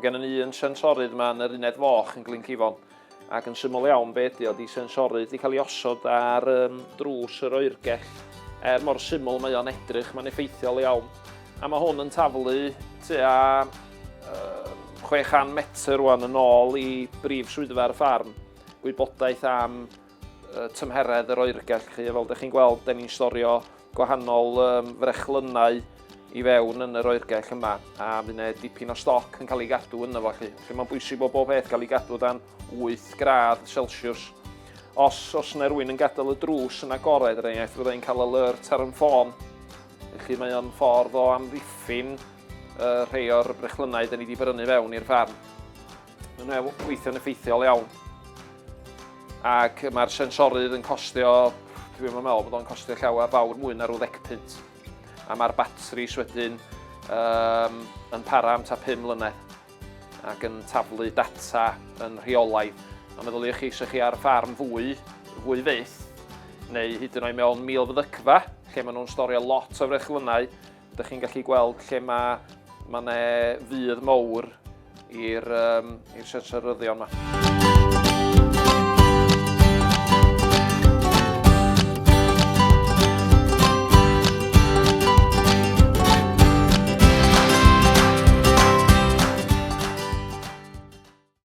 Mae gennym ni un sensorydd yma yn yr uned foch yn Glyn Cifon, ac yn syml iawn be ydy o, ydy sensorydd wedi cael ei osod ar um, drws yr oergell. Er mor syml mae o'n edrych, mae'n effeithiol iawn. A mae hwn yn taflu tua um, 600 metr rwan yn ôl i brif swyddfa'r ffarm, gwybodaeth am tymheredd yr oergell chi. Fel ydych chi'n gweld, da ni'n storio gwahanol um, frechlynnau i fewn yn yr oergell yma, a fydd yna dipyn o stoc yn cael ei gadw yna fo chi. Felly mae'n bwysig bod bob peth cael ei gadw dan 8 gradd Celsius. Os os yna rwy'n yn gadael y drws yn agored, er enghraifft, fydda i'n cael alert ar yn ffôn. Felly mae o'n ffordd o amddiffyn uh, rhai o'r brechlynnau da ni wedi brynu fewn i'r farm. Mae'n weithio'n effeithiol iawn. Ac mae'r sensorydd yn costio, dwi'n meddwl bod o'n costio llawer fawr mwy na rhyw ddeg punt. A mae'r batris wedyn um, yn para am ta 5 mlynedd ac yn taflu data yn rheolaidd. A meddyliwch chi, sych chi ar ffarm fwy, fwy fyth, neu hyd yn oed mewn mil fydygfa, lle maen nhw'n storio lot o frechlynnau, Dych chi'n gallu gweld lle mae ma ne fydd mowr i'r um, siartryddion yma.